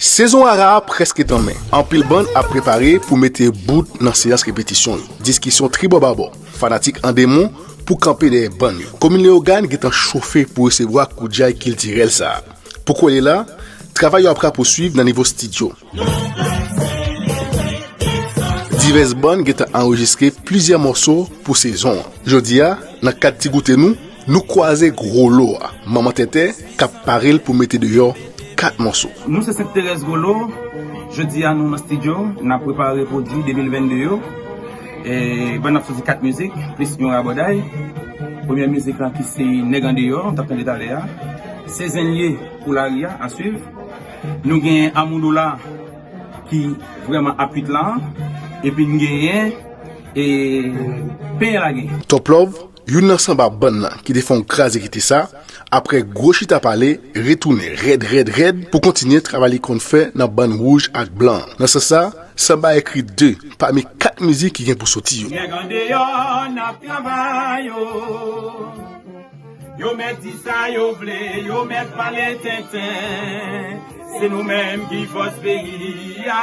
Sezon Ara a prèske tanmen. Anpil bann ap prepare pou mete bout nan seyans repetisyon yo. Diskisyon tribòbabò. Fanatik an demon pou kanpe dèyè bann yo. Komin Leyogàn gentan chofe pou resevwa koudjay kiltirèl sa a. Pou kole la, travay yo ap rapousuiv nan nivo stidyo. Divès bann gentan anrejistre plizyè mòso pou sezon an. Jodi a, nan kad ti goute nou, Nou kwaze gwo lo a, manman tenten k ap pare l pou mete deyò 4 mòso. Nou se Sent Terèz Gwo Lo, jodi a nou nan stidyo, n ap prepare pwodui 2022 yo. Ban n ap soti 4 mizik, plis yon rabòday. Premyè mizik lan ki se Nèg Andeyò, nou t ap tande talè a, Se Zen l ye pou lari a, a swiv. Nou gen Amou Dola ki vrèman ap kuit la, epi n genyen Peye Lage. Top Love, Youn nan sanba bann lan ki te fè yon kraze kite sa, aprè gwo chita pale, retounen rèd rèd rèd pou kontinye travay li konn fè nan bann wouj ak blan an. Nan sans sa, sanba ekri 2 pami 4 mizik ki gen pou soti yo. Nèg andeyò n ap travay o Yo mèt di sa yo vle, yo mèt pale tenten Se nou menm ki fòs peyi a.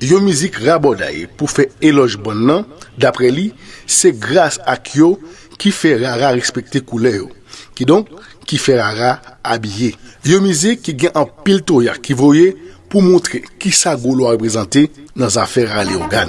Yon mizik rabòday pou fè elòj bann nan, daprè li, se gras ak yo ki fè rara respekte koulè yo, kidonk ki fè rara abiye. Yon mizik ki gen anpil toya ki voye pou montre kisa gwo lwa reprezante nan zafè rara Leyogàn.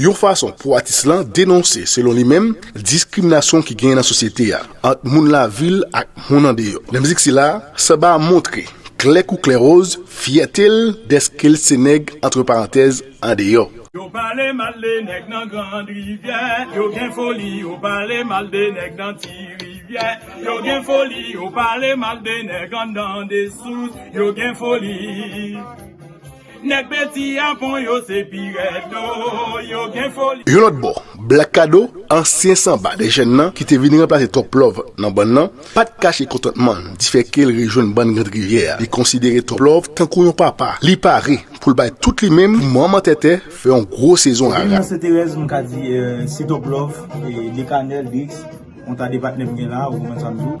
yon fason pou atis lan denonse, selon li menm, diskriminasyon ki genyen nan sosyete a ant moun lavil ak moun andeyò. Nan mizik sila, Samba a montre klè kou klè woz fyète l dèske l se nèg antre parantèz andeyò. Yo pale mal de nèg nan grand rivyè Yo gen foli Yo pale mal de nèg nan ti rivyè Yo gen foli Yo pale mal de nèg anndan desous Yo gen foli Nèg pedi a bon yo se pi rèd oo yo gen foli. Yon lòt bò, Black Kado, ansyen sanba de jèn nan ki te vin ranplase Top Love nan bann nan, pa t kache kontantman l di fè ke l rejwenn bann Grande Rivière a. Li konsidere Top Love tankou yon papa, li pare pou l bay tout li menm pou manman Tètè fè yon gwo sezon rara. Depi nan Seterèz m ka di si Top Love, Decanel, Drix, yon ta de patnè m gen la ou menm sa m di w.